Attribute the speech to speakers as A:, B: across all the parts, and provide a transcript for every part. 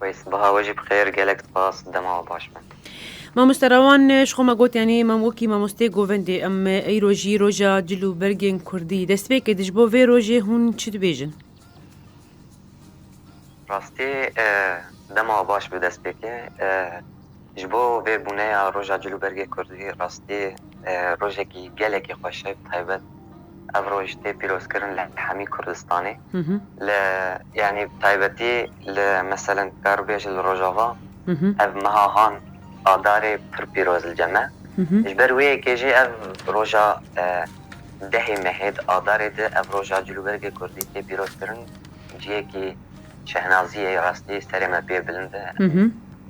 A: Wey sbaha we jî bi xêr gelek spas dema we baş be. Mamoste
B: Rawan ji xwe me got yanî mam wekî mamosteyê govendê em îro jî roja cil û bergên kurdî destpêkê di ji bo vê rojê hûn çi dibêjin?
A: Rastî dema we baş bi destpêkê. Ji bo vê bûneya Roja Cilûbergê Kurdî rastî rojekî gelekî xweş e bi taybet ev roj tê pîrozkirin li hemî Kurdistanê li yanî bi taybetî li meselen dikar bêje li Rojava ev meha han adarê pir pîroz li cem e ji ber wê yekê jî ev roja dehê mehê di adarê de ev roja Cilûbergê Kurdî tê pîrozkirin ciyekî Şehnazî ey rastî serê me pê bilind e.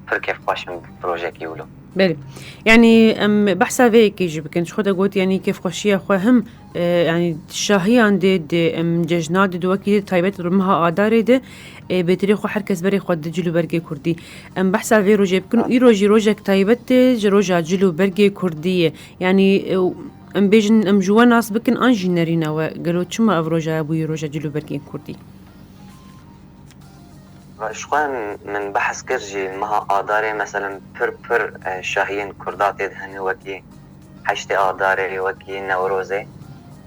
A: Pir kêfxweş im projeyekî wilo. Belê. Yanî
B: em behsa vê yekê jî bikin. Ji xwe de got yanî kêfxweşiya xwe him e, yanî şahiyan dê dê em cejna dê di wekî dê taybet li meha adarê de e, bêtirê xwe her kes berê xwe di cil û bergê Kurdî. Em behsa vê rojê bikin û îro jî rojek taybet tê ji roja cil û bergê Kurdî ye. Yanî e, em bêjin em ji we nas bikin an jî nerîne we. Gelo çima ev roja bûye roja cil û bergên Kurdî?
A: Ji xwe min behs kir jî meha adarê meselem pir pir şahiyên kurda tê dihene wekî heştê adarê wekî newrozê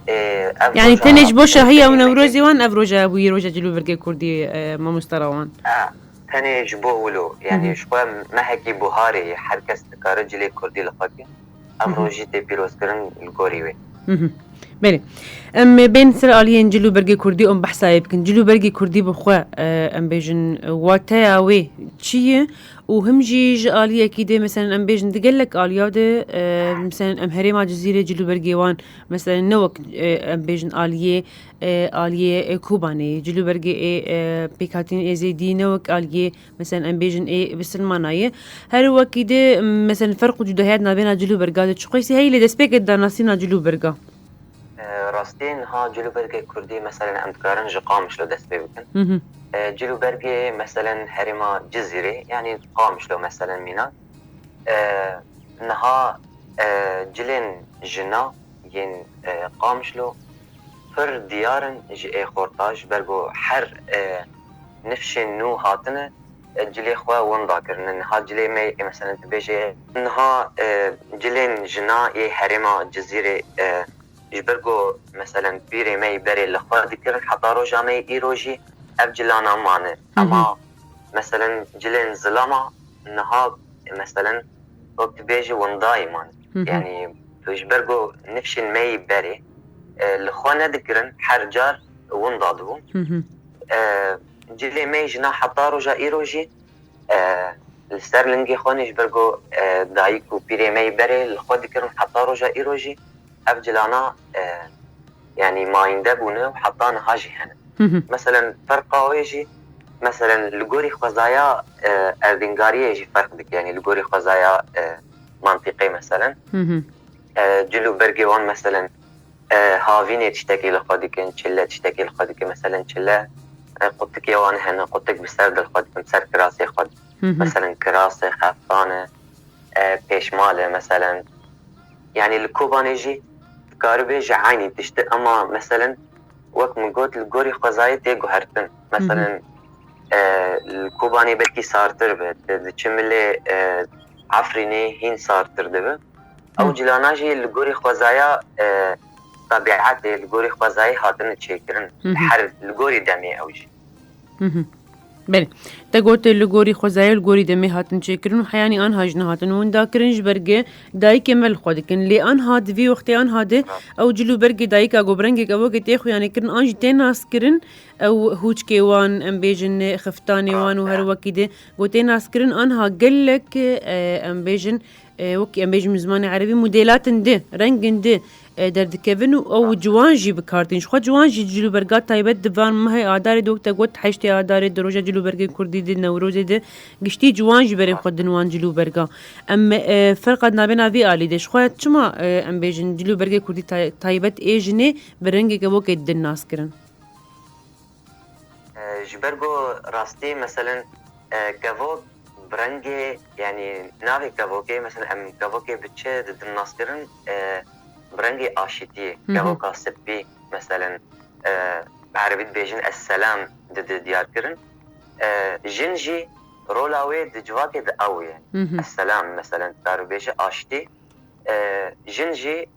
A: ê ev
B: Yani tenê ji bo şahiya û newrozê wan ev roja bûye roja cilûvirgê kurdî mamosta rawan. Tenê
A: ji bo wilo yani ji xwe mehekî buharê ye her kes dikare cilê kurdî li xwe ke. Ev rojî tê pîrozkirin li
B: gorî wê. Belê em bên ser aliyên cil û bergê Kurdî em behsayê bikin. Cil û bergê Kurdî bi xwe em bêjin wateya wê çi ye û him jî ji aliyekî dê meselen em bêjin di gelek aliya de meselen em herêma Cizîrê cil û bergê wan meselen ne wek em bêjin aliyê aliyê Kobanê cil û bergê ê pêkhatîn Êzêdî ne wek aliyê Meseln em bêjin ê bi silmana ye. Her wekî dê meseln ferq û cudahiyat navêna cil û berga de çiqûyî heyî lê destpêkê danasîna cil û berga.
A: Rastiyê niha cil û bergê kurdî meseln em dikarin ji Qamişlo dest pê bikin. Cil û bergê meseln herêma Cizîrê yanî Qamişlo meseln mînan. Niha cilên jina yên Qamişlo pir diyar in ji ê xorta ji ber ku her nifşên nû hatine cilê xwe winda kirine. Niha cilê me yê meselen tu bêjê niha cilên jina yê herêma Cizîrê ji ber ku meselen pîrê me yê berê li xwe dikirin heta roja me yê îro jî ev cilana mane. Ema meselen cilên zilama niha meselen wek tu bêjî windayê mane. Yanî tu ji ber ku nifşên me yê berê li xwe nedikirin her car winda dibûn. Cilê me ji na heta roja îro jî li ser lingê xwe nê ji ber ku dayik û pîrê me yê berê li xwe dikirin heta roja îro jî ev cilana yanî mayînde bûne û heta niha jî hene. Meselen ferqa wê jî meselen li gorî xwezaya erdîngariyê jî ferq dike yanî li gorî xwezaya mantîqê meselen cil û bergê wan meselen Havînê tiştekî li xwe dikin, çile tiştekî li xwe dikin. Meselên çile qutikê wan hene, qutik bi ser de li xwe dikin, bi ser kirasê xwe dikin. Meselên kiras e, xeftan e, pêşmal e meselên. Yanî li Kobanê jî dikaribê ji eynî tiştê ema meselên wek min got li gorî xwezayê tê guhertin. Meselên li Kobanê belkî sartir be, diçe milê Efrînê hîn sartir dibe. Ew cilana jî li gorî xwezaya tebîetê, li gorî xwezayê
B: hatine çêkirin. Her li gorî demê ew jî. Belê. Te got li gorî xwezayê li gorî demê hatin çêkirin û heyanî anha jin hatin winda kirin ji ber gi dayikê me li xwe dikin. Lê anha di vî wextê anha di ew cil û bergê dayika ku bi rengek ewekê tê xuyanê kirin an jî tê naskirin ew hûçkê wan em bêjin xiftanê wan û her wekî di gotê naskirin anha gelek em bêjin Wekî em bêjim li zimanê erebî modêlatên di, rengên di derdikevin û ew ciwan jî bikardin. Jixwe ciwan jî cilûberga taybet di van mehê adarê di wek te got heştê adarê di roja cilûbergên kurdî di newrozê di giştî ciwan jî berên xwe din wan cilûberga. Em ferqa dinabêna vî alî de. Jixwe çima em bêjin cilûbergê kurdî taybet ê jinê bi rengeke wekê din nas kirin?
A: Ji ber ku rastî meselen kevok bi rengê yanî navê kevokê meselen em kevokê bi çi didin naskirin bi rengê aşîtiyê kevoka sipî meselen bi erebî dibêjin esselam didi diyarkirin jin jî rola wê di civakê de ew ye esselam meselen dikar bibêje aşitî jin jî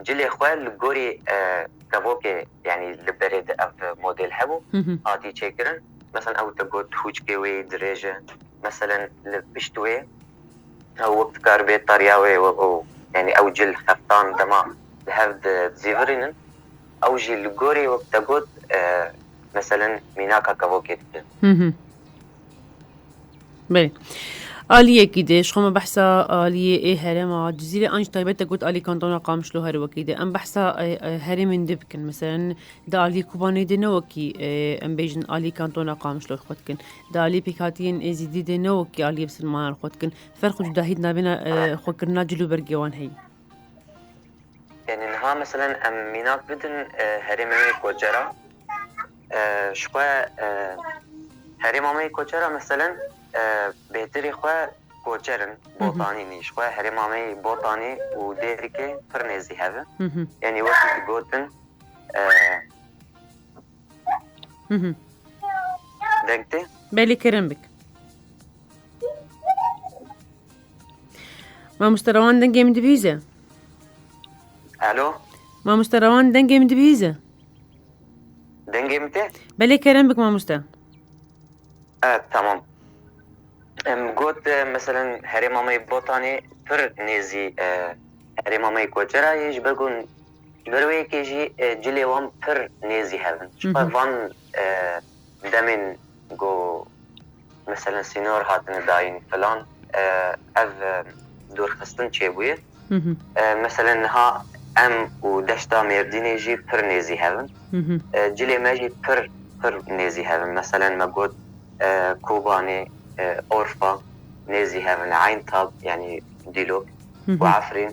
A: Cilê xwe li gorî kevokê yanî li berê de ev model hebû hatî çêkirin. Meselen ew digot hûçkê wê dirêj e. Meselen li pişt wê ew wek dikar bê tariya wê yanî ew cil heftan dema li hev dizîvirînin ew jî li gorî wek te got meselen mînaka kevokê dikin.
B: Belê. Aliyekî de ji xwe me behsa aliyê ê herêma Cizîrê an ji taybet te got alî kantona Qamişlo her wekî de. Em behsa herêmên din bikin. Meselen di aliyê Kobanê de ne wekî em bêjin alî kantona Qamişlo xwe dikin. Di aliyê pêkhatiyên Êzîdî de ne wekî aliyê Silmanan xwe dikin. Ferq û cudahî di navêna xwekirina cil û bergê wan heye.
A: Yanî niha meselen em mînak bidin herêma me yê Kocera. Ji xwe herêma me yê Kocera meselen bêtirê xwe Koçer in, Botanî nî. Ji xwe herêma me yê Botanî û Dêrikê pir nêzî hev in. Yanî wekî digotin deng tê? Belê kirin
B: bik. Mamoste Rewan dengê min dibihîze.
A: Alo. Mamoste
B: Rewan dengê min dibihîze.
A: Dengê min te? Belê kerem bik
B: mamoste. Evet
A: tamam. Em got e, mesela herê mamayê botanê pir nêzî e, herê mamayê koçera yê ji ber ku ji ber wê yekê jî e, cilê wan pir nêzî hevin. Ji xwe van e, demên ku Meselen sînor hatine dayîn filan ev dûrxistin çêbûye. Meselen niha em û deşta Mêrdînê jî pir nêzî hev in. Cilê me jî pir pir nêzî hev in. Meselen me got Kobanê, Orfa nêzî hev in, Eyntab yanî Dîlok û Efrîn.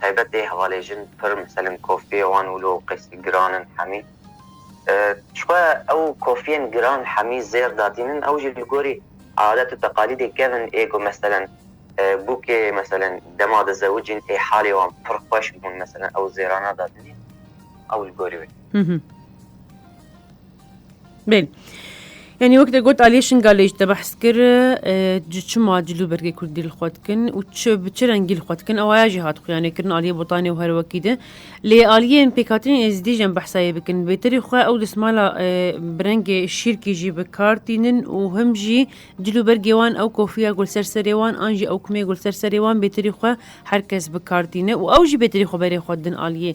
A: taybet ê hevalê jin pir miselim kofiyê wan wilo û qêsî giran in hemî çixwe ew kofiyên giran hemî zêr datînin ew jî li gorî adet û teqalîdê kevin ê ku meselen bûkê meselen dema dizewicîn ê halê wan pir xweş bûn meselen ew zêrana datînê ew li gorî wê.
B: Bel. Yani wek de got Aliye Şingalê ji te behs kir tu çima cilû bergê Kurdî li xwe dikin û çi bi çi rengî li xwe dikin ewaya jî hat xuyanê kirin Aliye Botanê û her wekî de lê aliyên pêkhatinên êzidî jî em behsayê bikin bêterî xwe ew dismala bi rengê şîrkî jî bi kar tînin û him jî cilû bergê wan ew kofiya gul ser serê wan an jî ew kumê gul ser serê wan bêterî xwe herkes bi kar tîne û ew jî bêterî xwe berê xwe din aliyê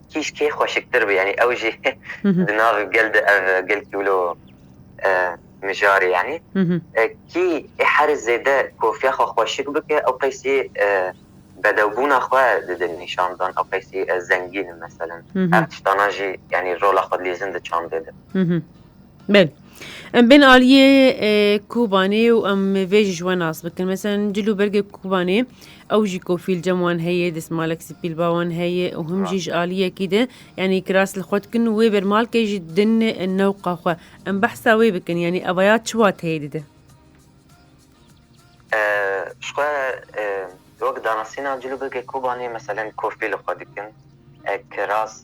A: kîj kê xweşiktir bû yanî ew jî di nav gel de ev gel kîwlo mijarê yanî kî ê herê zêde kofiya xwe xweşik bike ew qeysî bedewbûna xwe dide nîşan dan ew qeysî ez zengîn im meselem ev tiştana jî yanî rola xwe dilîzin di çandê de. Bel
B: em bên aliyê Kobanê û em vê jî ji we nas bikin. Mesela cil û bergê Kobanê ew jî kofîl cem wan heye, desmalek sipîl ba wan heye û him jî ji aliyekî de yanî kiras li xwe dikin û wê bermalkê jî din newqa xwe. Em behsa wê bikin yanî evaya çi wateyê dide? Ji xwe wek
A: danasîna cil û bergê Kobanê meselen kofî li xwe dikin, kiras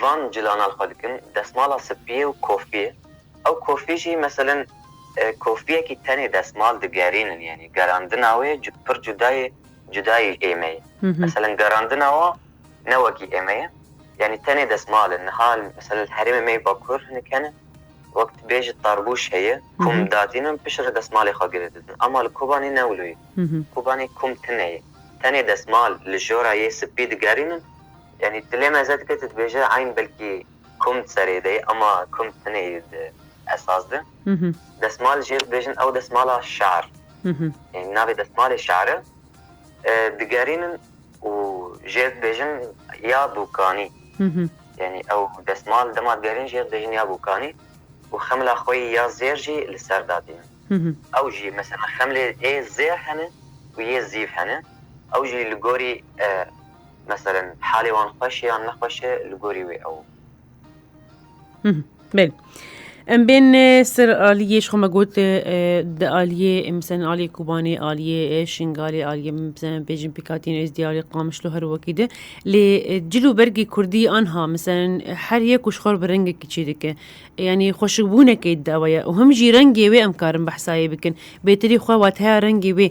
A: Van cilanan xwe dikin desmala spiyê û kofiyê. Ew kofî jî meselen kofiyekî tenê desmal digerînin yanî gerandina wê pir cudayê cudayî êmeyê. Meselen gerandina wan ne wekî ême ye yanî tenê desmal in. Niha meselen li herêmê me yê bakur hinek hene wek tu bêjî tarbûş heye kum datînin pişt re desmalê xwe girê didin ama li Kobanê ne wilo ye. Kobanê kum tune ye tenê desmal li jora yê spî digerînin Yanî dilê me zeh dike tu dibêje eyn belkî kum di serê de ye ema kum tenê di esas de. Desmal jê dibêjin ew desmala şer yanî navê desmalê şer e. Digerînin û jê dibêjin ya bûkanî yanî ew desmal dema digerînin jê dibêjin ya bûkanî û xemla xwe yî ya zêr jî li ser datînin. Ew jî mesela xemlê ê zêr hene û yê zîv hene ew jî li gorî Meselen halê wan xweş
B: e yan nexweş e li gorî wê ew. Belê. Em bên ser aliyê ji xwe me got di aliyê misin aliyê Kobanê aliyê Şingalê aliyê misin bêjin pêkatîn êzdî aliyê qamişlo her wekî de lê cil û bergê Kurdî anha misin her yek û ji xwe bi rengekî çê dike yanî xweşikbûnekê di ew ye û him jî rengê wê em karin behsayê bikin bêtirî xwe wat heya rengê wê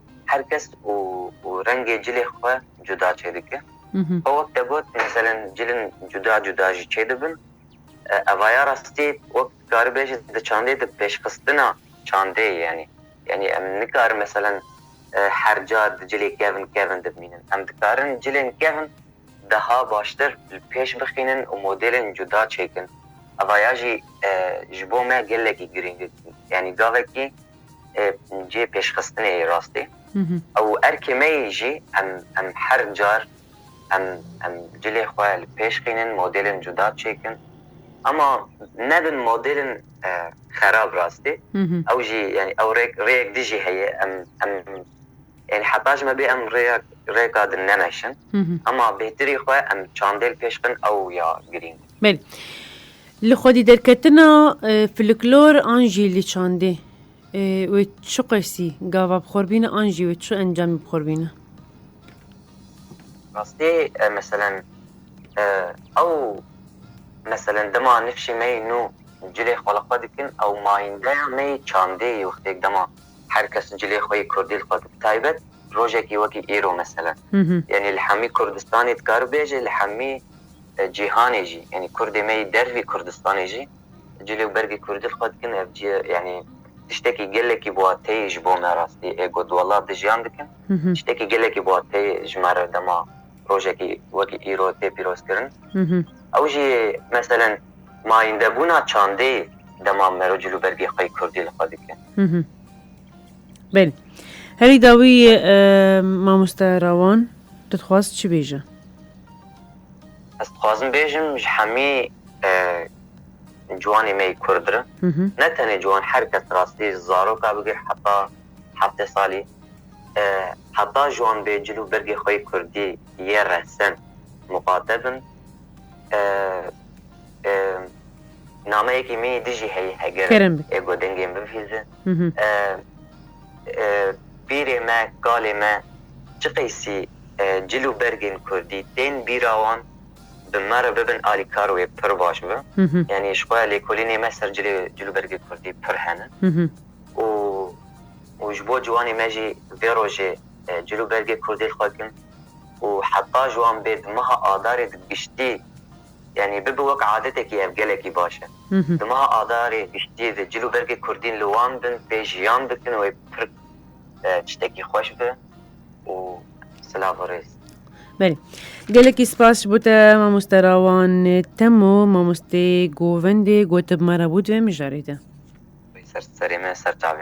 A: Her kes û û rengê cilê xwe cuda çêdike. Xwe wek te got meselen cilin cuda cuda jî çêdibin. Eva ya rastî wek dikaribê jî di çandê de pêşxistina çandê ye yanî. Yanî em nikarin meselen her car di cilê kevin kevin dimînin. Em dikarin cilên kevin daha baştir li pêş bixînin û modêlên cuda çêkin. Eva ya jî ji bo me gelekî girîng e. Yanî gavekî cihê pêşxistinê yê rastî û erkê me yê jî em em her car em em cilê xwe li pêş xînin, modêlên cuda çêkin. Ama nebin modêlên xerab rastî. Ew jî yanî ew rêk rêyek dijî heye. Em em yanî heta ji me bê em rêya rêka din nemeşin. Ama bêhtirî xwe em çandê li pêş bixin ew ya girîng e. Belê.
B: Li xwedîderketina filiklor an jî li çandê wê çi qesî gava bi xwe bîne an jî wê çi encamê bi xwe bîne?
A: Rastî meselen ew meselen dema nifşê me yî nû cilê xwe li xwe dikin ew mayîndeya me yî çandê yî wextêk dema her kes cilê xwe yî kurdî li xwe bi taybet rojekî wekî îro meselen yanî li hemî kurdistanê dikari bêje li hemî cîhanê jî yanî kurdê me yî dervî Kurdistanê jî cilê û bergê kurdî li xwe dikin ev cî yanî tiştekî gelekî biwateyê ji bo me rastî ê got wela di jiyan dikin tiştekî gelekî biwateyê ji me re dema rojekî wekî îro tê pîrozkirin ew jî yê meselen mayîndebûna çandê dema mero cil û bergê xwe kurdî li xwe dikin
B: Belê herî dawî mamoste rawan dixwaz çi bêje? Ez
A: dixwazim bêjim ji hemî ciwanê me yê Kurd re ne tenê ciwan her kes rastî zaroka bigir heta heftê salî heta ji wan bê cil û bergê xwe yê Kurdî yê resen muqate bin nameyekî min yê dijî heyî heger ê godengên bivîze pîrê me kalê me çi qeysî cil û bergên kurdî tên bîra wan bi me re bibin alîkar wê pir baş bi. Yanî ji xwe ya lêkolînê me ser cilê cil û bergê kurdî pir hene û û ji bo ciwanê me jî vê rojê cil û bergê kurdî li xwe kin û heta ji wan bê di meha adarê di giştî yanî bibe wek adetekî ev gelekî baş e. Di meha adarê giştî de cil û bergê kurdîn li wan bin tê jiyan bikin wê pir tiştekî xweş be. û silav û rêz. Belê.
B: Gelekî spas ji bo te mamoste rawan temo mamostê govendê gotib me re bû divê mijarê de. Ser
A: serê
B: me ser
A: çavê.